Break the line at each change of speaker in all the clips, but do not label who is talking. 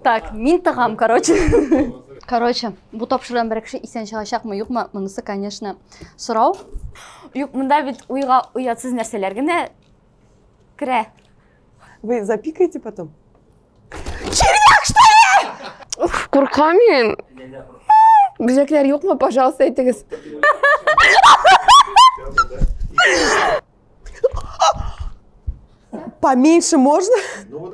Так, мин тагам, короче. Короче, бу тапшырдан бер кеше исән чыгачакмы, юкмы? Монысы, конечно, сорау. Юк, монда бит уйга уятсыз нәрсәләр генә керә. Вы запикаете потом? Червяк, что ли? Уф, куркам мин. Бизәкләр юкмы, пожалуйста, әйтегез. Поменьше можно? Ну,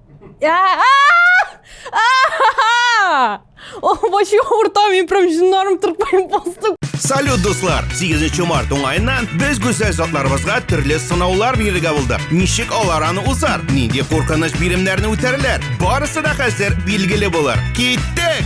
О, башы урта мин прям җиннарым тырпайып бастым. Салют, дуслар! 8 март уңаеннан без гүзәл затларыбызга төрле сынаулар бирергә булдык. Ничек алар аны узар? Нинди куркыныч биремнәрне үтәрләр? Барысы да хәзер билгеле булыр. Киттек!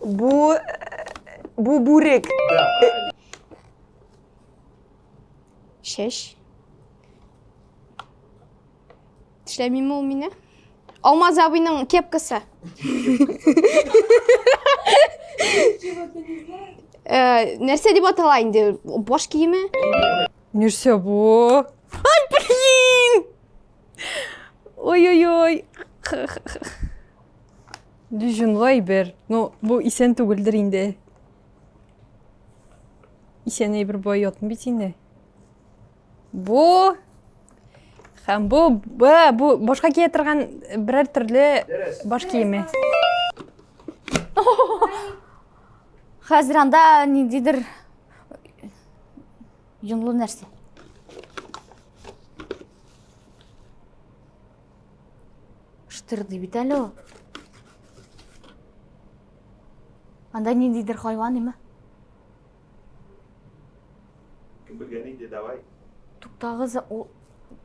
Бу... Бу бүрек. Чәч. Тешләмиме ул мине? Алмаз абыйның кепкасы. Э, нәрсә дип атала инде? Баш киеме? Нәрсә бу? Ай, блин! Ой-ой-ой. Дюжинлы әйбер. Ну, бу исән түгелдер инде. Исән әйбер бай ятмый бит инде. Бу һәм бу бу, бу башка кия торган берәр төрле баш киеме. Хәзер анда ниндидер юнлы нәрсә. Штыр ди бит әле ул. Анда ниндидер хайван име? Кем белгән инде, давай. Туктагыз, ул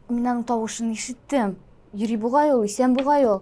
мин аның тавышын ишеттем. Йөри бугай ул, исән бугай ул.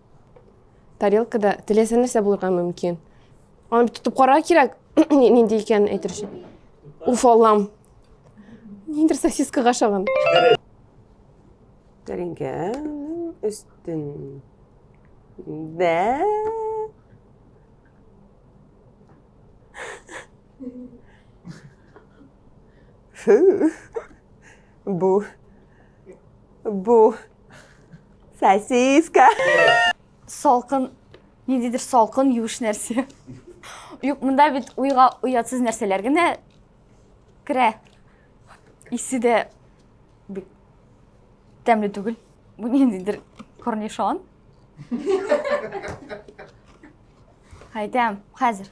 тарелкада теләсә нәрсә булырга мөмкин аны бит тотып карарга кирәк нинди икәнен әйтер өчен уф аллам ниндер сосискага ошаган тәлинкәнең өстен бә Фу. Бу. Бу. Сосиска. Салкын, ниндидер салкын, юеш нәрсә. Юк, монда бит уйга уятсыз нәрсәләр генә керә. Исе дә бик тәмле түгел. Бу ниндидер корнишон. Хәйтәм, хәзер.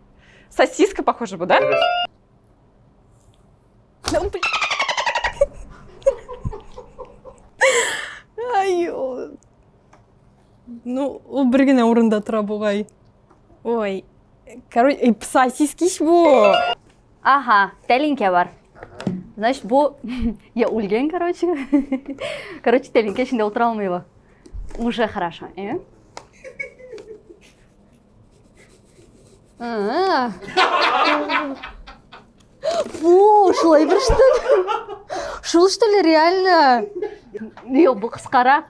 Сосиска похоже была, да? Ай, ну, ул бер генә урында тора бугай. Ой, короче, э, сосиски ич бу. Ага, тәлинкә бар. Значит, бу я үлгән, короче. Короче, тәлинкә эчендә утыра алмый бу. Уже хорошо, э? Фу, шулай бер штук. Шул что ли реально? Йо, бу кыскара.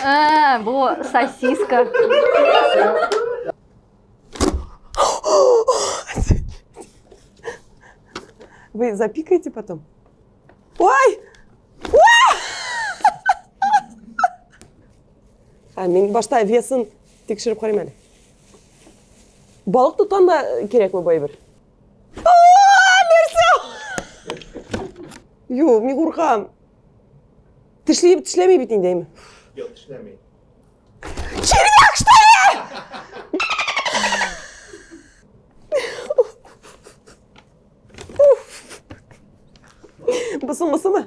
А, бу сосиска. Вы запикаете потом? Ой! Ә мин башта весын тикшереп карыйм әле. Балык тоткан да кирәкме бу әйбер? Нәрсә? Юк, мин куркам. Тешли тешләми бит инде. Юк, тешләми. Червяк что ли? Бысымы, сымы?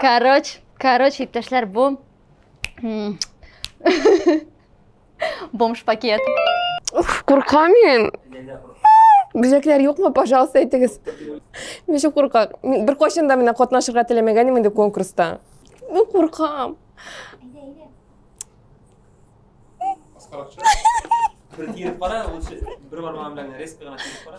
Короче, короче, иптәшләр, бу бомж пакет. Уф, куркам мин. Бизәкләр юкмы, пожалуйста, әйтегез. Мин шул куркам. Бер кайчан да менә катнашырга теләмәгән инде конкурста. Мин куркам. Аскаракча. Бер киеп кара, лучше бер бармагым белән резко гына киеп кара.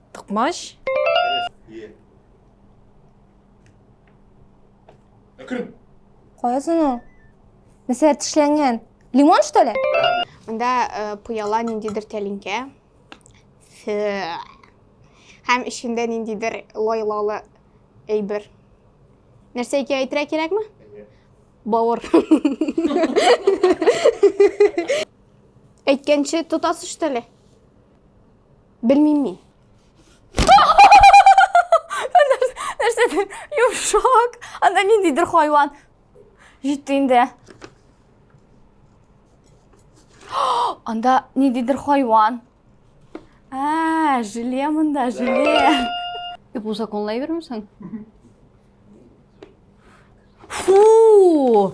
Токмач. Әкрен. Кая соң ул? Нәрсә тешләнгән? Лимон что ли? Монда э, пыяла ниндидер тәлинкә. Һәм эчендә ниндидер лайлалы әйбер. Нәрсә икән әйтергә кирәкме? Бавыр. Әйткәнче тотасыз что ли? Белмим мин. Нәрсәдер йомшак, анда ниндидер хайван. Җитте инде. Анда ниндидер хайван. Ә, желе монда, желе. Дип узаконлай бермесең? Фу!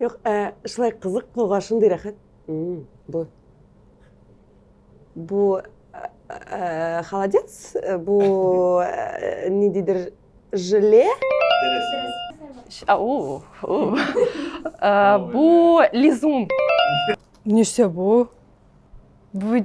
Юк, ә, шулай кызык булга шундый рәхәт. Бу. Бу ә, холодец, бу ә, ниндидер желе. А, у, у. Ә, бу лизун. Нәрсә бу? Бу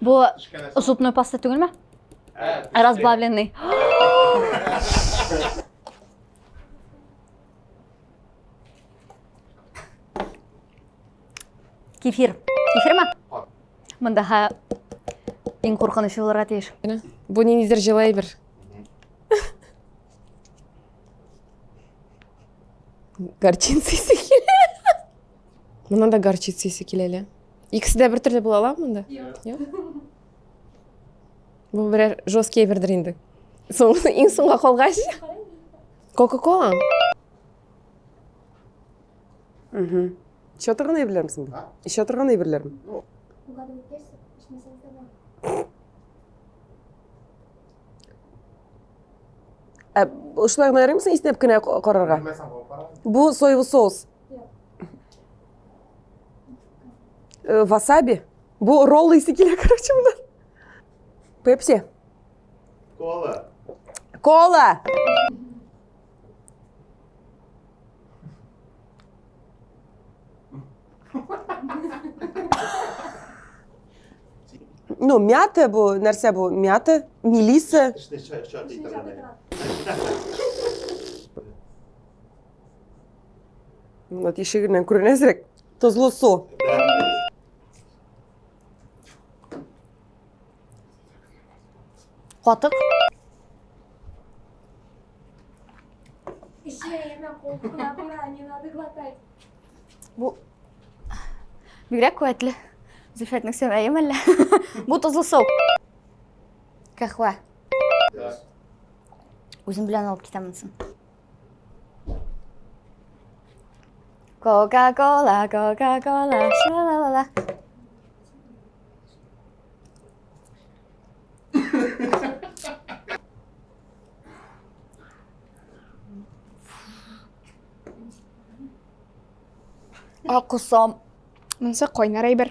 Бу зубной паста түгелме? Разбавленный. Кефир. Кефир ма? Мында ха иң куркынычлы булырга тиеш. Бу ниндидер җылы әйбер. Горчица исе килә. Мына да горчица исе килә әле. Икесе дә бертөрле була ала монда? Юк. Бу берәр жесткий әйбердер инде. Соң иң соңга калгач. Кока-кола. Угу. Еще торган әйберләр мисең? Еще торган әйберләр. Ә шулай гына ярыймсың иснәп кенә карарга? Бу соевый соус. Э, васаби. Бу ролл исе килә, короче, монда. Пепси. Кола. Кола. Ну, мята бу, нәрсә бу? Мята, мелиса. Мына тишегеннән күренә әзрәк. Тозлы су. Катык. Бу бигрәк куәтле. Зөлфәтнең сәмәе мәллә? Бу тозлы су. Кәхвә. Үзем белән алып китәм Кока-кола, кока-кола, ша-ла-ла-ла. Акусам. Монысы кайнар әйбер.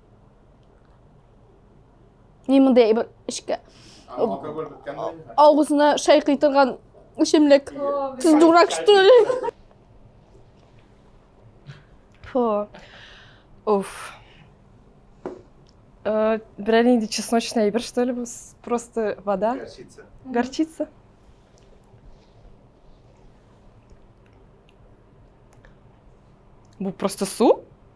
Ни мондый бер эшкә. Алкоголь беткәнме? Авызына шәй кыйтырган эчемлек. Сез дурак что ли? Фу. Уф. Э, Берәр нинди чесночный әйбер что ли бу? С- Просто вода. Горчица. Горчица. Бу просто су?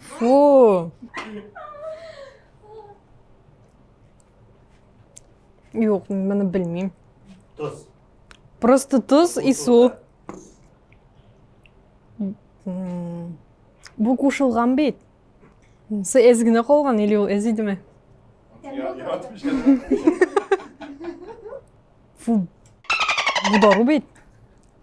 Фу. Юк, мене бельмі. Тус. Просто тус і су. Бу кушылган бит. Сы эз генә калган или ул эз идеме? Фу. Бу дару бит.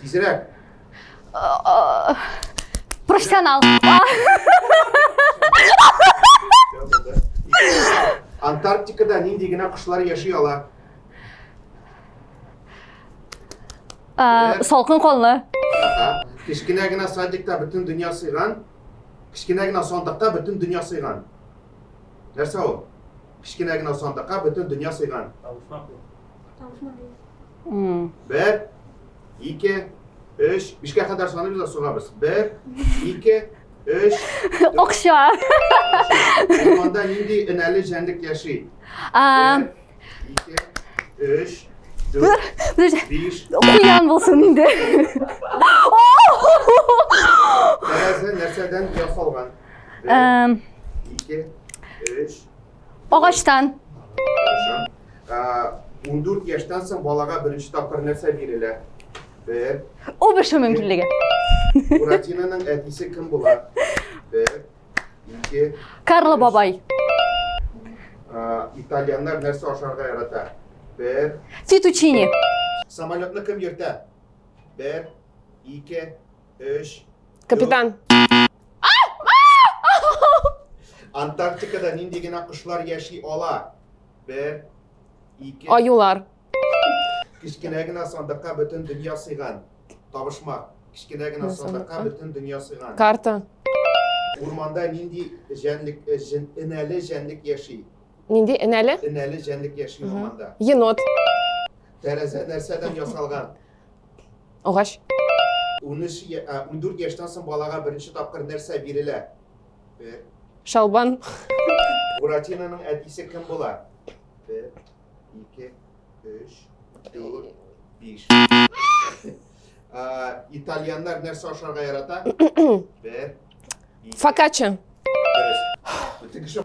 Тизрәк. Профессионал. Антарктикада нинди генә кошлар яши ала? Ә, Салкын канлы. Ага. Кечкенә генә садикта бөтен дөнья сыйган. Кечкенә генә сандыкта бөтен дөнья сыйган. Нәрсә ул? Кечкенә генә сандыкка бөтен дөнья сыйган. Тавышмак. Бер, ике, өч, бишкә кадәр саныйбыз да сугабыз. Бер, ике, өч. Акча. Урманда нинди энәле җәнлек яши? Бер, ике, өч, дүрт, биш. Куян булсын инде. Тәрәзә нәрсәдән ясалган? Бер, ике, өч, Агачтан. Ундүрт яшьтән соң балага беренче тапкыр нәрсә бирелә? Бер. Ул бешү мөмкинлеге. Буратинаның әтисе кем була? Бер. Ике. Карло бабай. Итальяннар нәрсә ашарга ярата? Бер. Фетучини. Самолетны кем йөртә? Бер. Ике. 3. Капитан. Антарктикада нинди генә кошлар яши ала? 1. 2. Аюлар. Кечкенә генә сандыкка бөтен дөнья сыйган. Табышмак. Кечкенә генә сандыкка бөтен дөнья сыйган. Карта. Урманда нинди җәнлек, э, җен, энәле җәнлек яши? Нинди энәле? Энәле җәнлек яши урманда. Енот. Тәрәзә нәрсәдән ясалган? Агач. 13 я- а, 14 яшьтән соң балага беренче тапкыр нәрсә бирелә? Бер. Шалбан. Буратиноның әтисе кем була? Бер, ике, өч, дүрт, биш. А, Итальяннар нәрсә ашарга ярата? Бер, ике, Фокачча. дөрес. Бөтен кеше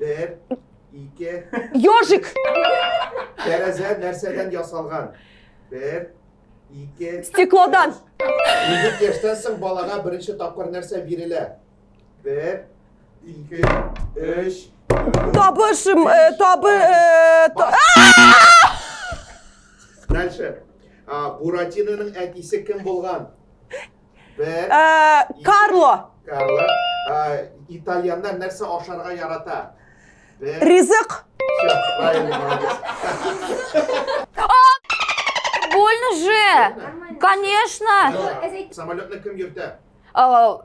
Бер, ике. Ёжик! Тәрәзә нәрсәдән ясалган? Бер, ике. Стеклодан. Егет яшьтән соң балага беренче тапкыр нәрсә бирелә? Бер, ике, өч. Табыш, э, табы, э, та- Дальше. А, Буратиноның әтисе кем булган? Бер. Э, Карло. Карло. Э, итальянда нәрсә ашарга ярата? Бер. Ризык. Все, правильно, молодец. А, больно же. Конечно. Самолетны кем йөртә? А,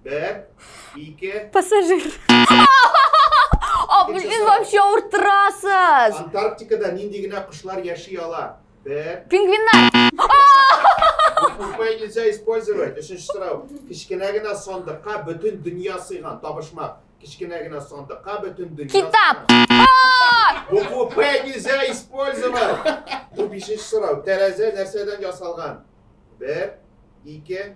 Бер, ике. Пассажир. А, блин, вообще уртрасыз. Антарктикада нинди генә кышлар яши ала? Б. Пингвиннар! Буквой нельзя использовать. Өченче сорау. Кечкенә генә сандыкка бөтен дөнья сыйган. Табышмак. Кечкенә генә сандыкка бөтен дөнья Китап! Букву П нельзя использовать. Бу бишенче сорау. Тәрәзә нәрсәдән ясалган? Бер, ике,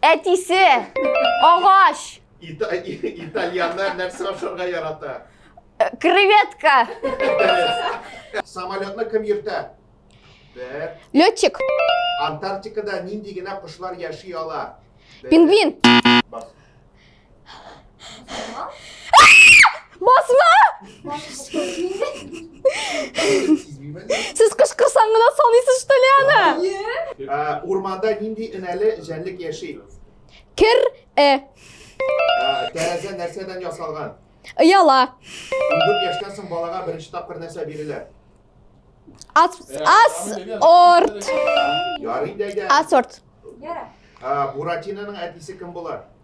Әтисе! Агач! Итальяннар нәрсә ашарга ярата? Э, креветка! Самолетны кем йөртә? Бер. Летчик. Антарктикада нинди генә кошлар яши ала? Пингвин. Басма! Сез кышкырсаң гына саныйсыз что ли аны? Урманда нинди энәле җәнлек яши? Кер э. Тәрәзә нәрсәдән ясалган? Ыяла. Өлгер яшьтән соң балага беренче тапкыр нәрсә бирелә? Ас ас орт. Ярый дәйдә. Асорт. Буратинаның әтисе кем була?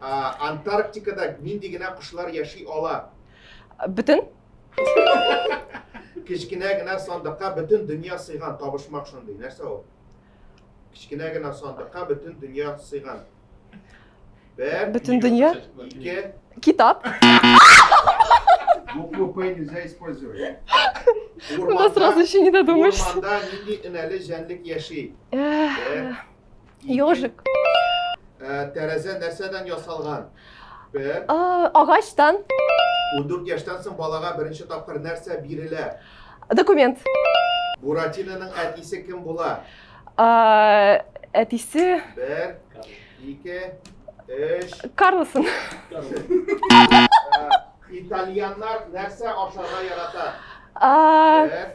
Ә, Антарктикада нинди генә кошлар яши ала? Бөтен. Кечкенә генә сандыкка бөтен дөнья сыйган табышмак шундый. Нәрсә ул? Кечкенә генә сандыкка бөтен дөнья сыйган. Бер, Бөтен дөнья. ике, Китап. Букву П нельзя использовать. У нас урманда, сразу еще не додумаешься. урманда нинди энәле җәнлек яши? Э, Бер, Ёжик. Ә, тәрәзә нәрсәдән ясалган? Б. Ә, агачтан. 14 яшьтән соң балага беренче тапкыр нәрсә бирелә? Документ. Буратиноның әтисе кем була? Ә, әтисе. Бер, ике, өч. Карлсон. Ә, итальяннар нәрсә ашарга ярата? Ә, Бер,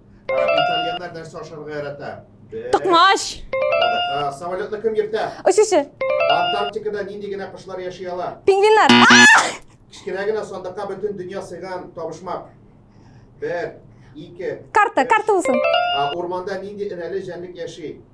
Итальяннар нәрсә ашарга ярата? Токмач. Самолетны кем йөртә? Очучы. Антарктикада нинди генә кошлар яши ала? Пингвиннар. Кечкенә генә сандыкка бөтен дөнья сыйган табышмак. Бер, ике. Карта, карта булсын. Урманда нинди энәле җәнлек яши?